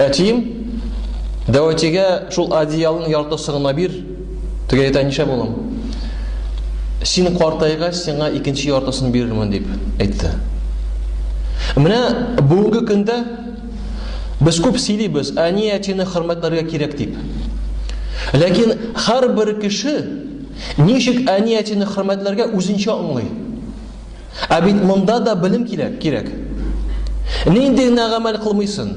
Әтием, дәватигә шул одеялның яртысын гына бир. Тегә әйтә, нишләп улым? Син картайгач, сиңа икенче яртысын бирермен дип әйтте. Менә бүгенге көндә без күп сөйлибез, әни әтине хөрмәтләргә кирәк дип. Ләкин һәрбер кеше ничек әни әтине хөрмәтләргә үзенчә аңлый. Ә бит монда да белем кирәк, кирәк. Нинди генә гамәл кылмыйсын.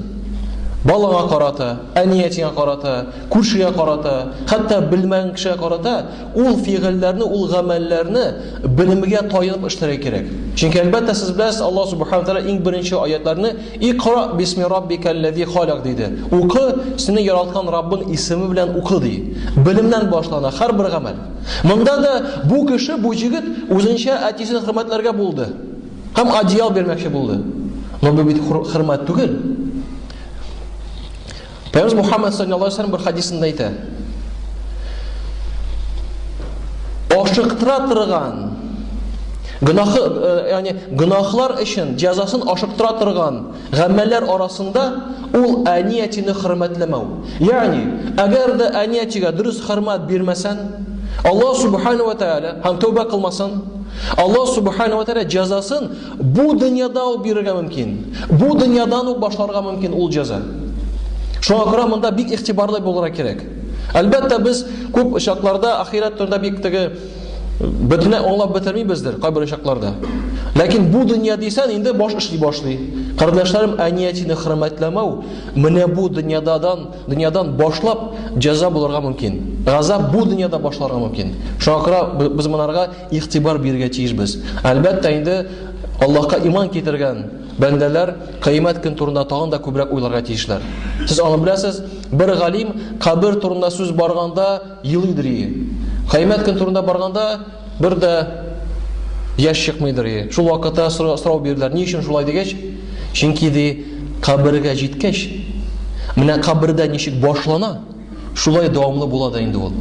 Балага карата, әниятеңә карата, күршегә карата, хәтта белмәгән кешегә карата ул фигыльләрне, ул гамәлләрне белемгә таянып эшләргә кирәк. Чөнки әлбәттә сез беләсез, Аллаһ субхана тәгалә иң беренче аятларны икра бисми раббикаллази халак диде. Укы, сине яраткан Раббың исеме белән укы ди. Белемнән башлана һәрбер гамәл. Монда да бу кеше, бу җегет үзенчә әтисен хөрмәтләргә булды. Һәм одеял бирмәкче булды. Но бу бит хөрмәт түгел. Пәйгамбер Мухаммад саллаллаһу алейһи ва бер хадисында әйтә. Ашыктыра торган гөнаһы, э, ягъни гөнаһлар өчен җәзасын ашыктыра торган Гамәлләр арасында ул әниятине хөрмәтләмәү. Ягъни, әгәр дә әниятигә дөрес хөрмәт бирмәсән, Аллаһ субхана ва тааля һәм тәүбә кылмасын, Аллаһ субхана ва тааля җәзасын бу дөньяда ук бирергә мөмкин. Бу дөньядан ук башларга мөмкин ул җәза. Шуңа күрә монда бик игътибарлы булырга кирәк. Әлбәттә, без күп очакларда ахирәт турында бик теге Бөтенләй аңлап бетермибездер кайбер очакларда. Ләкин бу дөнья дисән инде баш эшли башлый. Кардәшләрем, әниятине хөрмәтләмәү менә бу дөньядан, дөньядан башлап җәза булырга мөмкин. Газап бу дөньяда башларга мөмкин. Шуңа күрә без монарга игътибар бирергә тиешбез. Әлбәттә инде Аллаһка иман китергән бәндәләр кыямәт көн турында тагын да күбрәк уйларга тиешләр. Сез аны беләсез, бер галим кабер турында сүз барганда Елыйдыр ие. Кыямәт көне турында барганда, бер дә яшь чыкмыйдыр ие. Шул вакытта сорау бирделәр, ни өчен шулай дигәч, чөнки ди, кабергә җиткәч, менә кабердә ничек башлана, шулай дәвамлы була да инде ул.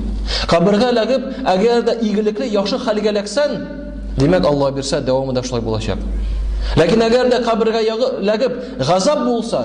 Кабергә эләгеп, әгәр дә игелекле, яхшы хәлгә эләксән, димәк, Алла бирсә, дәвамы да шулай булачак. Ләкин әгәр дә кабергә эләгеп, газап булса,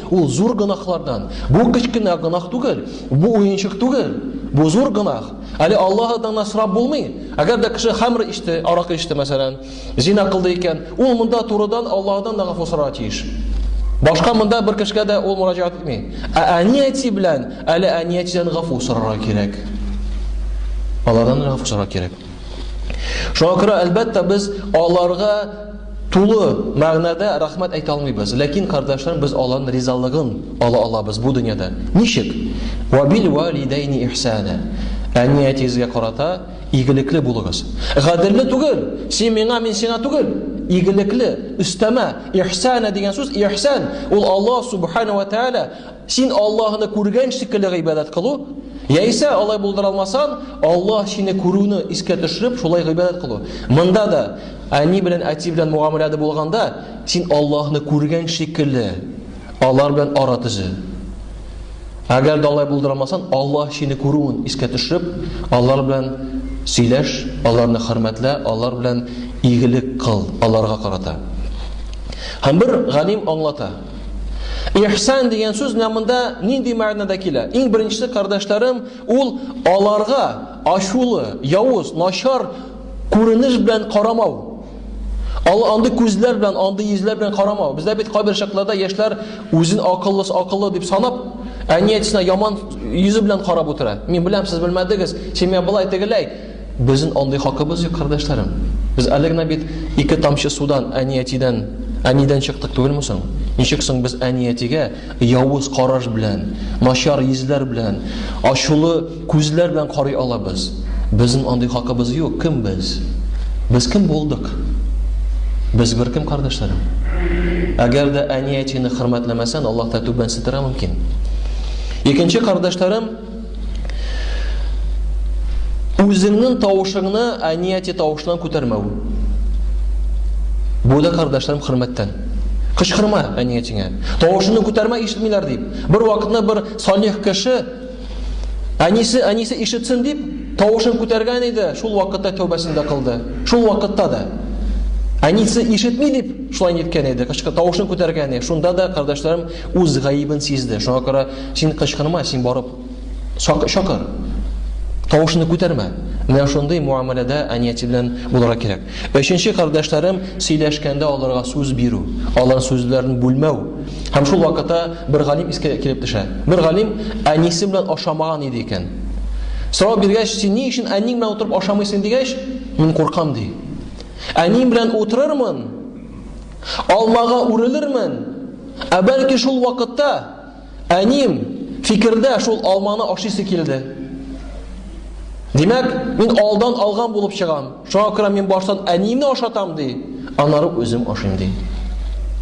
Ул зур гөнаһлардан. Бу кечкенә гөнаһ түгел, бу уенчык түгел. Бу зур гөнаһ. Әле Аллаһыдан да сорап булмый. Әгәр дә кеше хамр ичте, аракы ичте, мәсәлән, зина кылды икән, ул монда турыдан Аллаһыдан да гафу сорарга тиеш. Башка монда бер кешегә дә ул мөрәҗәгать итми. Ә әни-әти белән әле әни-әтидән гафу сорарга кирәк. Алардан гафу сорарга кирәк. Шуңа күрә, әлбәттә, без аларга тулы мәгънәдә рәхмәт әйтә алмыйбыз. Ләкин, кардәшләр, без алан ризалыгын ала алабыз бу дөньяда. Ничек? Ва бил валидайни ихсана. Әни әтигезгә карата игелекле булыгыз. Гаделле түгел, син миңа, мин сиңа түгел. Игелекле, өстәмә, ихсана дигән сүз, ихсан, ул Аллаһ субхана ва тааля Син Аллаһны күргән шикелле гыйбадәт кылу, яисә алай булдыра алмасаң, Аллаһ сине күрүне искә төшереп, шулай гыйбадәт кылу. Монда да әни белән әти белән мугамәләдә булганда, син Аллаһны күргән шикелле алар белән ара төзе. Әгәр дә алай булдыра алмасаң, Аллаһ сине күрүен искә төшереп, алар белән сөйләш, аларны хөрмәтлә, алар белән игелек кыл, аларга карата. Һәм бер галим аңлата. Ихсан дигән сүз менә монда нинди мәгънәдә килә? Иң беренче кардәшләрем, ул аларга ачулы, явыз, начар күренеш белән карамау. Ал андый күзләр белән, андый йөзләр белән карамау. Бездә бит кайбер чакларда яшьләр үзен акыллы, акыллы дип санап, әниятсенә яман йөзе белән карап утыра. Мин беләм, сез белмәдегез. Син миңа былай тегеләй. Безнен андый хакыбыз юк, кардәшләрем. Без әле генә бит ике тамчы судан әни-әтидән, әнидән чыктык түгелме соң? Ничек соң без әни-әтигә явыз караш белән, начар йөзләр белән, ачулы күзләр белән карый алабыз? Безнен андый хакыбыз юк, кем без? Без кем булдык? Без беркем, кардәшләрем. Әгәр дә әни-әтине хөрмәтләмәсән, Аллаһ та түбәнсетергә мөмкин. Икенче кардәшләрем, Үзеңнең тавышыңны әнияти тавышынан күтәрмәү. Бу да кардәшләрем хөрмәттән. Кычкырма әниятеңә. Тавышыңны күтәрмә ишетмиләр дип. Бер вакытны бер салих кеше әнисе әнисе ишетсен дип тавышын күтәргән иде. Шул вакытта тәүбәсен дә кылды. Шул вакытта да әнисе ишетми дип шулай ниткән иде. Кычкы тавышын күтәргән иде. Шунда да кардәшләрем үз гаебен сизде. Шуңа күрә Син кычкырма, син барып сак чакыр. Тавышны күтәрмә. Менә шундый муамәләдә әниятел белән булырга кирәк. Өченче кардәшләрем сөйләшкәндә аларга сүз бирү, алар сүзләрен бүлмәү. Һәм шул вакытта бер галим искә килеп төшә. Бер галим әнисе белән ашамаган иде икән. Сорау биргәч, син ни өчен әниң белән утырып ашамыйсың дигәч, мин куркам ди. Әнием белән утырырмын, алмага үрелермен, ә бәлки шул вакытта Әнием, фикердә шул алманы ашыйсы килде. Димәк, мин алдан алган булып чыгам. Шуңа күрә мин баштан әниемне ашатам ди, аннары үзем ашыйм ди.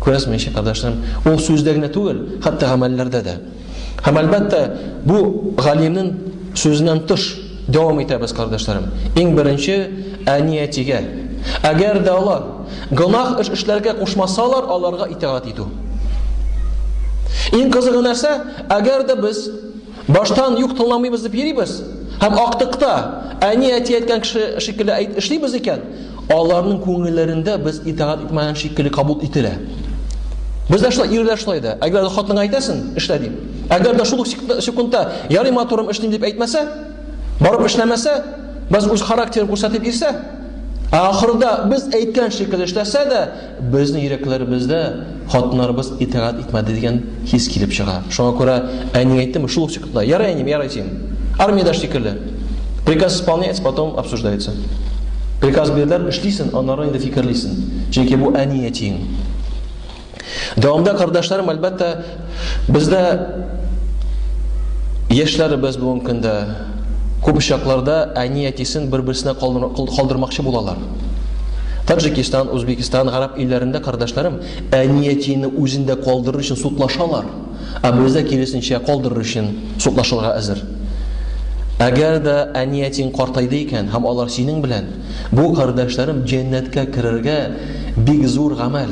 Күрәсезме, ничек кардәшләрем? Ул сүздә генә түгел, хәтта гамәлләрдә дә. Һәм әлбәттә, бу галимнең сүзеннән тыш Дәвам итәбез, кардәшләрем. Иң беренче, әни-әтигә. Әгәр дә алар гөнаһ эш эшләргә кушмасалар, аларга итагать итү. Иң кызыгы нәрсә? Әгәр дә без баштан юк тыңламыйбыз дип йөрибез һәм актыкта әни-әти әйткән кеше шикелле әйт эшлибез икән, Аларның күңелләрендә без итагать итмәгән шикелле кабул ителә. Без дә шулай, ирләр шулай да. Әгәр дә хатынга әйтәсен, эшлә дип. Әгәр дә шул ук секундта ярый матурым эшлим дип әйтмәсә, барып эшләмәсә, без үз характерын күрсәтеп ирсә, ә ахырда без әйткән шикелле эшләсә дә, Безнең йөрәкләребездә хатыннарыбыз итагать итмәде дигән хис килеп чыга. Шуңа күрә әниң әйттеме, шул ук секундта, ярый әнием, ярый син. Армиядә шикелле. Приказ исполняется, потом обсуждается. Приказ бирделәр, эшлисен, аннары инде фикерлисен. Чөнки бу әни әтиең. Дәвамда кардәшләрем, әлбәттә, Бездә яшьләребез бүгенге көндә күп очракларда әни-әтисен бер-берсенә калдырмакчы булалар. Таджикистан, Узбекистан, гарәп илләрендә кардәшләрем әни-әтине үзендә калдырыр өчен судлашалар, ә бездә киресенчә калдырыр өчен судлашырга әзер. Әгәр дә әни-әтиң картайды икән һәм алар синең белән, бу кардәшләрем җәннәткә керергә бик зур гамәл.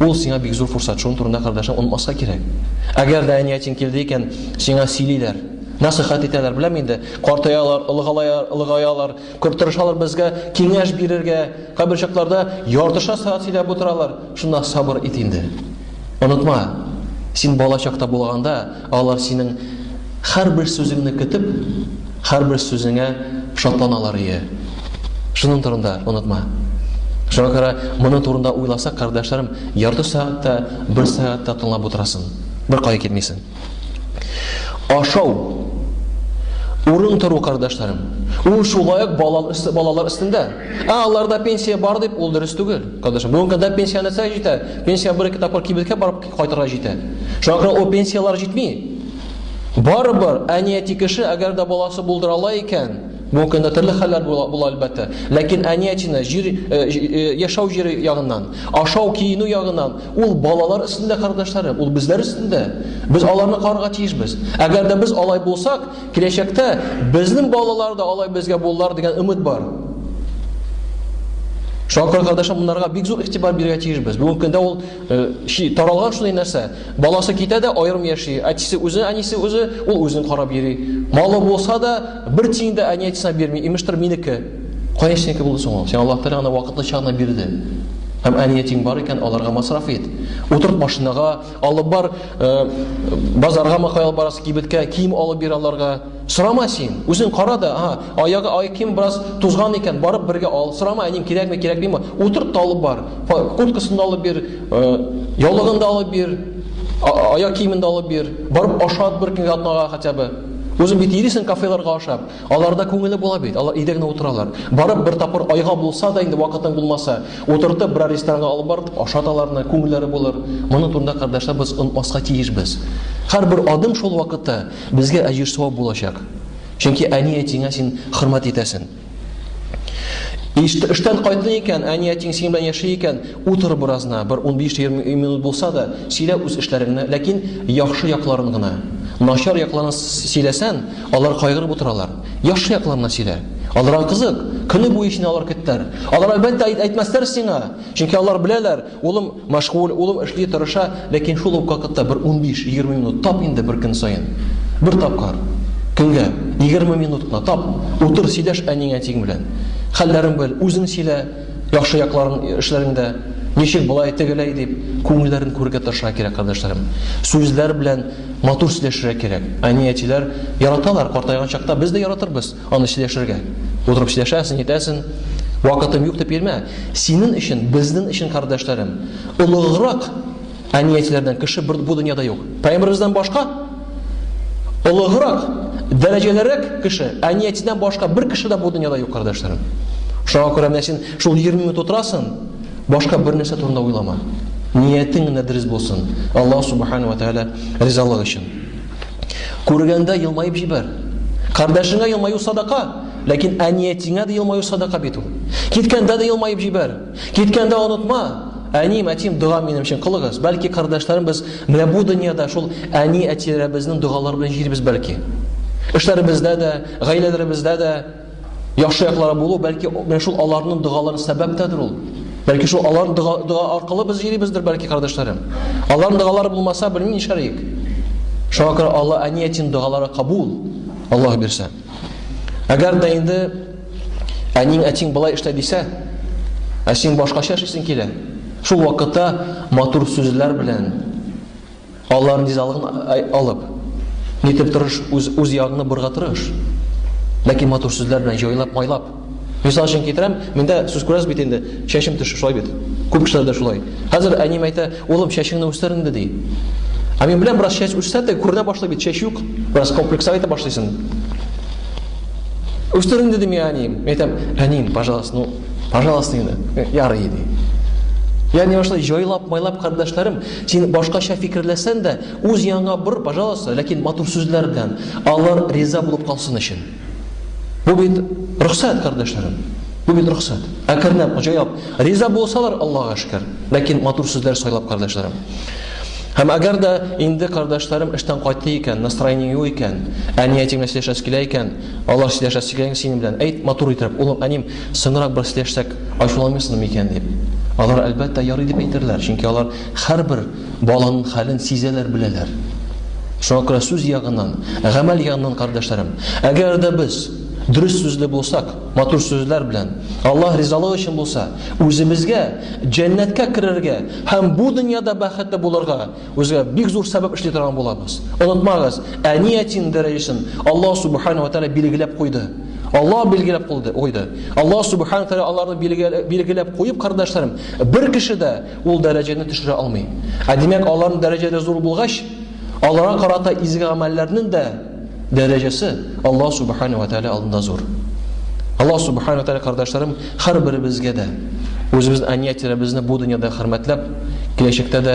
Ул сиңа бик зур фурсат, шуның турында кардәшең онытмаска кирәк. Әгәр дә әниятин килде икән, сиңа сөйлиләр, насыйхат итәләр, беләм инде, картаялар, олыгалар, олыгаялар, кортырышалар безгә киңәш бирергә, кабер чакларда яртыша саат сөйләп утыралар, шунда сабыр ит инде. Онытма, син бала чакта булганда, Алар синең һәрбер сүзеңне көтеп, һәрбер сүзеңә шатланалар ие. Шуның турында онытма. Шуңа күрә моның турында уйласа, кардәшләрем, ярты сәгать тә, бер сәгать тә тыңлап утырасын. Бер кая китмисен. Ашау. Урын тору, кардәшләрем. Ул шулай ук балалар өстендә. Ә аларда пенсия бар дип, ул дөрес түгел. Кардәшләр, бүгенге көндә пенсия нәрсә җитә? Пенсия бер-ике тапкыр кибеткә барып Кайтырга җитә. Шуңа күрә ул пенсияләр җитми. Барыбер, әнияти кеше, әгәр дә баласы булдыра ала икән, бүгенге көндә төрле хәлләр була, була әлбәттә, ләкин әниятины җир, э, э, яшәү җире ягыннан, ашау, киенү ягыннан, ул балалар өстендә, кардәшләрем, ул безләр өстендә. Без аларны карарга тиешбез. Әгәр дә без алай булсак, киләчәктә безнең балалар да алай безгә булалар дигән өмет бар. Шуңа күрә, кардәшләр, монарга бик зур игътибар бирергә тиешбез. Бүгенге көндә ул Э, чи таралган шундый нәрсә. Баласы китә дә аерым яши. Әтисе үзе, әнисе үзе, ул үзен карап йөри. Малы булса да, бер тиен дә әни әтисенә бирми. Имештер минеке. Кая синеке булды соң ул? Сиңа Аллаһ Тәгалә аны вакытлыча гына бирде. Һәм әни әтиң бар икән, аларга масраф ит. Утырт машинага, алып бар, э, базарга макай алып барасы кибеткә, кием алып бир аларга. Сорама син, үзең кара да, ага, аягы ай ким бераз тузган икән, барып бергә ал. Сорама, әнин кирәкме, кирәкмиме? Утырт та алып бар. Курткасын да алып бир, э, яулыгын да алып бир, аяк киемен дә алып бир. Барып ашат бер көнгә атнага хотя бы. Үзең бит ирисең кафеларга ашап. Аларда күңеле була бит. Алар өйдә генә утыралар. Барып бер тапкыр айга булса да инде вакытың булмаса, утыртып бер ресторанга алып барып ашат аларны, күңелләре булыр. Моның турында кардәшләр без онытмаска тиешбез. Һәрбер адым шул вакытта Безгә әҗер савап булачак. Чөнки әни-әтиңә син хөрмәт итәсен. Эштән кайтты икән, әни-әтиң синең белән яши икән, утыр беразна, бер 15-20 минут булса да, сөйлә үз эшләреңне, ләкин яхшы якларын гына. Начар якларын сөйләсән, алар кайгырып утыралар. Яхшы якларына сөйлә. Аларга кызык, көне буе сине алар көттәр. Алар әлбәттә әйтмәсләр сиңа, чөнки алар беләләр, Улым мәшгуль, улым эшли, тырыша, ләкин шул ук вакытта бер унбиш-егерме минут тап инде бер көн саен. Бер тапкыр көнгә, егерме минут кына тап, утыр, сөйләш әниең-әтиең белән. Хәлләрен бел, үзең сөйлә, яхшы якларын, эшләреңдә, ничек болай, тегеләй дип, күңелләрен күрергә тырышырга кирәк, кардәшләрем. Сүзләр белән матур сөйләшергә кирәк. Әни-әтиләр яраталар, картайган чакта без дә яратырбыз. Аны чиләшергә. Утырып чиләшәсен, әйтәсен. Вакытым юк дип йөрмә. Синен өчен, безнен өчен, кардәшләрем. Олыграк әниятеләрдән кеше бер бу дөньяда юк. Пәйгамберебездән башка олыграк, дәрәҗәлерәк кеше, әниятедән башка бер кеше дә бу дөньяда юк, кардәшләрем. Шуңа күрә менә син шул 20 минут утырасын, башка бер нәрсә турында уйлама. Ниятең генә дөрес булсын. Аллаһ субхана ва тааля ризалыгы өчен. Күргәндә елмаеп җибәр. Кардәшеңә елмаю садака, ләкин әниятеңә дә елмаю садака бит ул. Киткәндә дә елмаеп җибәр. Киткәндә онытма. Әним, әтим, дога минем өчен кылыгыз. Бәлки кардәшләрем без менә бу дөньяда шул әни-әтиләребезнең догалары белән җирбез бәлки. Эшләребездә дә, гаиләләребездә дә яхшы яклары булу, бәлки менә шул аларның догалары сәбәптәдер ул. Бәлки шул алар дога, дога аркылы без йөрибездер, бәлки кардәшләрем. Аларның догалары булмаса, белмим нишләриек. Шуңа күрә Алла әниятин догалары кабул. Аллаһ бирсә. Әгәр дә инде әниң әтиң былай эшлә дисә, ә син башкача эшлисең килә. Шул вакытта матур сүзләр белән, Аллаһын ризалыгын алып, нитеп тырыш, үз, үз ягыңны бурга тырыш. Ләкин матур сүзләр белән җайлап, майлап. Мисал өчен китерәм, миндә сүз күрәсез бит инде, чәчем төшү шулай бит. Күп кешеләр дә шулай. Хәзер әнием әйтә, улым, чәчеңне үстер инде, ди. Ә мин беләм, бераз чәч үссә дә, күренә башлый бит, чәч юк, бераз комплексовать итә башлыйсың. Үстер инде, ди миңа әнием. Мин әйтәм, әнием, пожалуйста, ну, пожалуйста инде, ярый, ди. Ягъни шулай җайлап, майлап, кардәшләрем, Син башкача фикерләсән дә, үз яныңа бор, пожалуйста, ләкин матур сүзләр белән, алар риза булып калсын өчен. Бу бит рөхсәт, кардәшләрем. Бу бит рөхсәт. Әкренләп, җайлап, риза булсалар, Аллага шөкер. Ләкин матур сүзләр сайлап, кардәшләрем. Һәм әгәр дә инде кардәшләрем эштән кайтты икән, настроение юк икән, әни әтиң белән сөйләшәсе килә икән, алар сөйләшәсе килә икән синең белән, әйт матур итеп, улым, әним, соңрак бер сөйләшсәк, ачуланмыйсыңмы микән дип. Алар, әлбәттә, ярый дип әйтерләр, чөнки алар һәрбер баланың хәлен сизәләр, беләләр. Шуңа күрә сүз ягыннан, гамәл ягыннан, кардәшләрем, әгәр дә без дөрес сүзле булсак, матур сүзләр белән, Аллаһ ризалыгы өчен булса, үзебезгә җәннәткә керергә һәм бу дөньяда бәхетле булырга Үзгә бик зур сәбәп эшли торган булабыз. Онытмагыз, әниятин дәрәҗәсен Аллаһ субхана ва тәгалә билгеләп куйды. Аллаһ билгеләп куйды. Куйды. Аллаһ субхана тәгалә аларны билгеләп куеп, кардәшләрем, бер кеше дә ул дәрәҗәне төшерә алмый. Ә димәк, аларның дәрәҗәләре зур булгач, аларга карата изге гамәлләрнең дә дәрәҗәсе Аллаһ субхана ва тәгалә алдында зур. Аллаһ субхана ва тәгалә кардәшләрем, һәрберебезгә дә үзебез әниятиләребезне бу дөньяда хөрмәтләп, киләчәктә дә